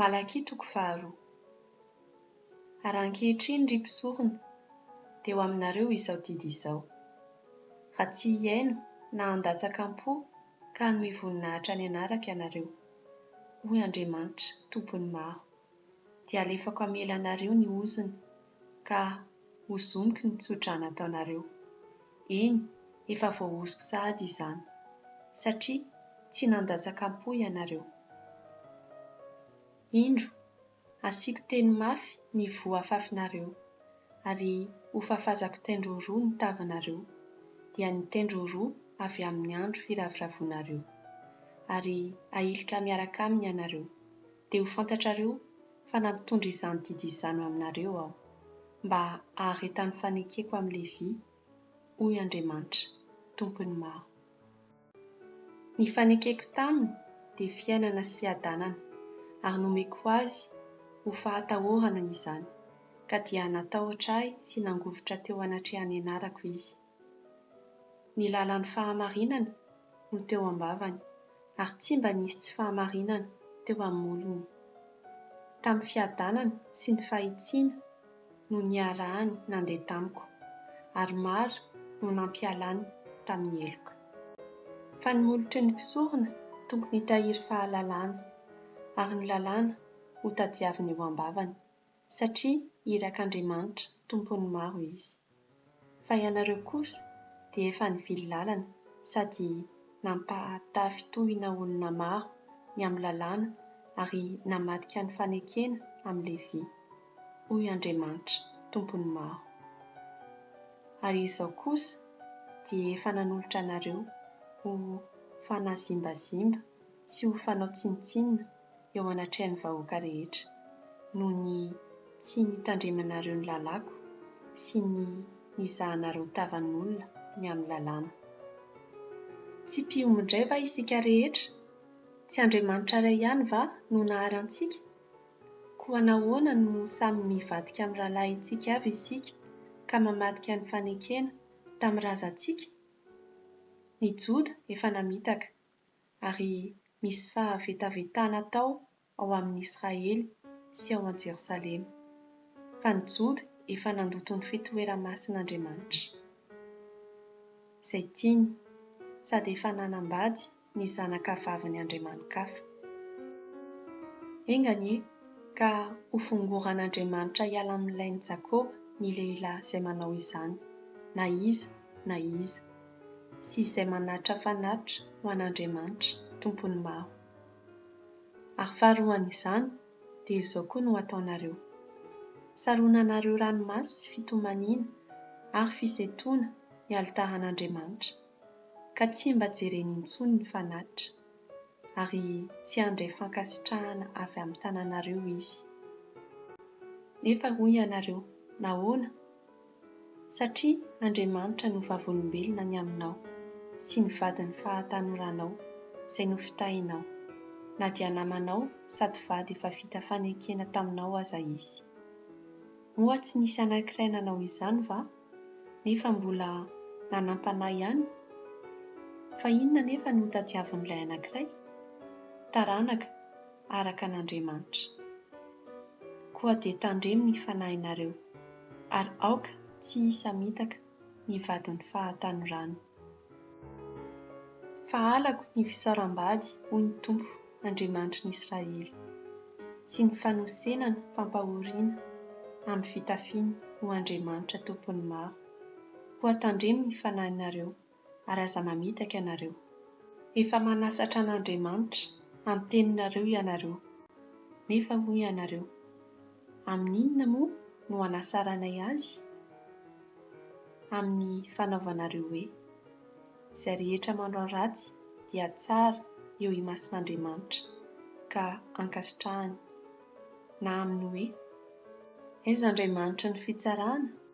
Malakia toko faharoa. Ary ankehitriny, ry mpisorona, dia ho aminareo izao didy izao, Raha tsy hihaino na handatsaka am-po ka hanohy voninahitra ny anarako ianareo, hoy Andriamanitra, Tompon'ny maro, dia halefako amelanareo ny ozony ka hozoniko ny tso-drà nataonareo, Eny, efa voahosoka sahady izany, satria tsy nandatsakam-po ianareo. Indro, asiako teny mafy ny voa afafinareo, ary hofafazako tendro roa ny tavanareo, dia ny tendro roa avy amin'ny andro firavoravoanareo, ary hahilika miaraka aminy ianareo, dia ho fantatrareo fa nampitondra izany didy izany ho aminareo aho, mba haharetan'ny fanekeko amin'i Levy, hoy Andriamanitra, Tompon'ny maro. Ny fanekeko taminy dia fiainana sy fiadanana, ary nomeko azy ho fahatahorana izany, ka dia natahotra ahy sy nangovitra teo anatrehan'ny anarako izy. Ny lalan'ny fahamarinany no teo am-bavany, ary tsy mba nisy tsy fahamarinana teo amin'ny molony. Tamin'ny fiadanana sy ny fahitsiana no niarahany nandeha tamiko, ary maro no nampialany tamin'ny heloka. Fa ny molotry ny mpisorona tokony hitahiry fahalalana, ary ny lalàna hotadiaviny eo am-bavany, satria irak'Andriamanitra tompon'ny maro izy. Fa ianareo kosa dia efa nivily lalana sady nampahatafy tohina olona maro ny amin'ny lalàna ary namadika ny fanekena amin'i Levy, hoy Andriamanitra tompon'ny maro. Ary izao kosa dia efa nanolotra anareo ho fanazimbazimbana sy ho fanao tsinontsinona, eo anatrehan'ny vahoaka rehetra, noho ny tsy nitandremanareo ny lalàko sy ny nizahanareo tavan'olona ny amin'ny lalàna. Tsy mpiomy indray va isika rehetra? Tsy Andriamanitra iray ihany va no nahary antsika? Koa nahoana no samy mivadika amin'ny rahalahintsika avy isika ka mamadika ny fanekena tamin'ny razantsika? Ny Joda efa namitaka. ary misy fahavetavetana atao ao amin' Israely sy ao an-Jerosalema, fa ny Joda efa nandoto ny fitoera-masin' Andriamanitra, izay tiany, sady efa nanambady ny zanakavavin' ny andriamani-kafa. Enga anie ka hofongoran' Andriamanitra hiala amin' ny lain' i Jakoba ny lehilahy izay manao izany, na iza na iza. sy izay manatra fanatitra ho an'Andriamanitra, Tompon'ny maro. Ary faharoan'izany, dia izao koa no hataonareo, Saronanareo ranomaso sy fitomaniana ary fisentoana ny alitaran'Andriamanitra, ka tsy mba jereny intsony ny fanatitra, ary tsy handray fankasitrahana avy amin'ny tananareo izy. Nefa hoy ianareo, Nahoana? Satria Andriamanitra no vavolombelona ny aminao sy ny vadin'ny fahatanoranao izay nofitahinao, na dia namanao sady vady efa vita fanekena taminao aza izy. Moa tsy nisy anankiray nanao izany va, nefa mbola nanam-panahy ihany? Fa inona anefa no tadiavin'ilay anankiray? Taranaka! araka an' Andriamanitra. Koa dia tandremo ny fanahinareo, ary aoka tsy hisamitaka ny vadin'ny fahatanorany. Fa halako ny fisaoram-bady, hoy ny Tompo, Andriamanitry ny Israely, sy ny fanosenana fampahoriana amin'ny fitafiny ho andriamanitra tompon'ny maro, koa tandremo ny fanahinareo. ary aza mamitaka ianareo. Efa manasatra an'Andriamanitra hanteninareo ianareo. Nefa hoy ianareo, Amin'inona moa no hanasaranay Azy? Amin'ny fanaovanareo hoe, Izay rehetra manao ratsy dia tsara eo imason'Andriamanitra, ka ankasitrahany. Na amin'ny hoe, Aiza Andriamanitry ny fitsarana?